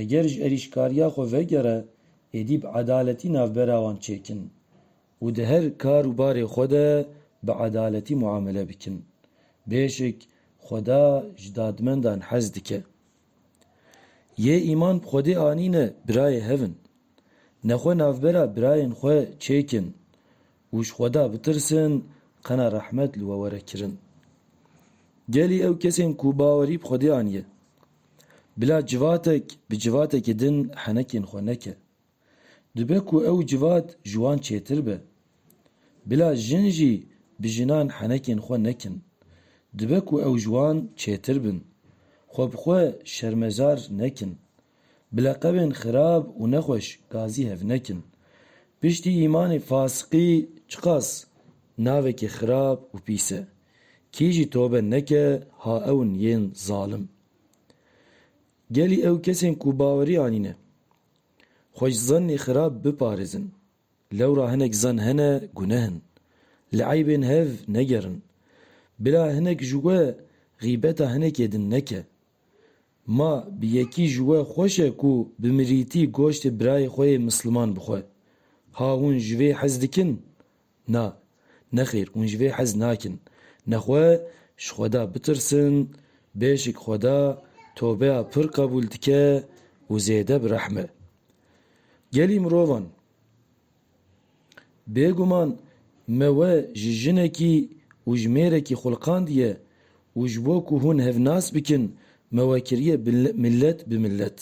Eger ji erîşkariya xwe vegere êdî bi edaletî navbera wan çêkin û di her kar û barê xwe de bi edaletî muamele bikin. Bêşik Xweda ji dadmendan hez dike. Yê îman bi Xwedê anîne birayê hev in. Ne xwe navbera birayên xwe çêkin û ji Xweda bitirsin qena rehmet li we were kirin. Gelî ew kesên ku bawerî bi Xwedê aniye Bila civatek bi civatekî din henekên xwe neke. Dibe ku ew civat ji wan çêtir be. Bila jin jî bi jinan henekên xwe nekin. Dibe ku ew ji wan çêtir bin. Xwe bi xwe şermezar nekin. Bi leqebên xirab û nexweş gazî hev nekin. Piştî îmanê fasiqî çiqas navekî xirab û pîs e. Kî jî tobe neke ha ewin yên zalim. Gelî ew kesên ku bawerî anîne xwe ji zannê xirab biparêzin. Lewra hinek zann hene guneh in. Li eybên hev negerin. Bila hinek ji we xîbeta hinekê din neke. Ma bi yekî ji we xweş e ku bi mirîtî goştê birayê xwe yê misliman bixwe. Ha hûn ji vê hez dikin? Na, nexêr hûn ji vê hez nakin. Nexwe ji Xweda bitirsin, bêşik Xweda tobeya pir qebûl dike û zêde bi rehm e. Gelî mirovan. Bêguman me we ji jinekî û ji mêrekî xulqandiye û ji bo ku hûn hev nas bikin me we kiriye millet bi millet,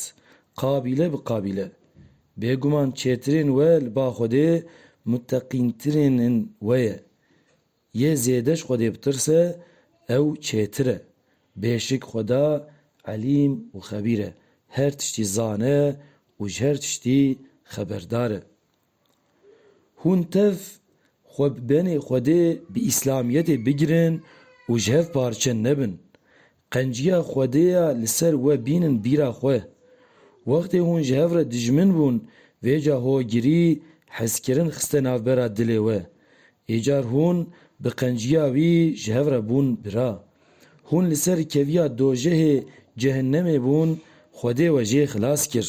qabîle bi qabîle. Bêguman çêtirên we li ba Xwedê muteqîntirên in we ye. Yê zêde ji Xwedê bitirse ew çêtir e. Bêşik Xweda Elîm û Xebîr e, her tiştî zane û ji her tiştî xeberdar e. Hûn tev xwe bi benê Xwedê bi Îslamiyetê bigirin û ji hev parçe nebin. Qenciya Xwedê ya li ser we bînin bîra xwe. Wextê hûn ji hev re dijmin bûn, vêca hogirî, hezkirin xiste navbera dilê we. Êcar hûn bi qenciya wî ji hev re bûn bira. Hûn li ser keviya dojehê, cehinnemê, bûn, Xwedê we jê xilas kir.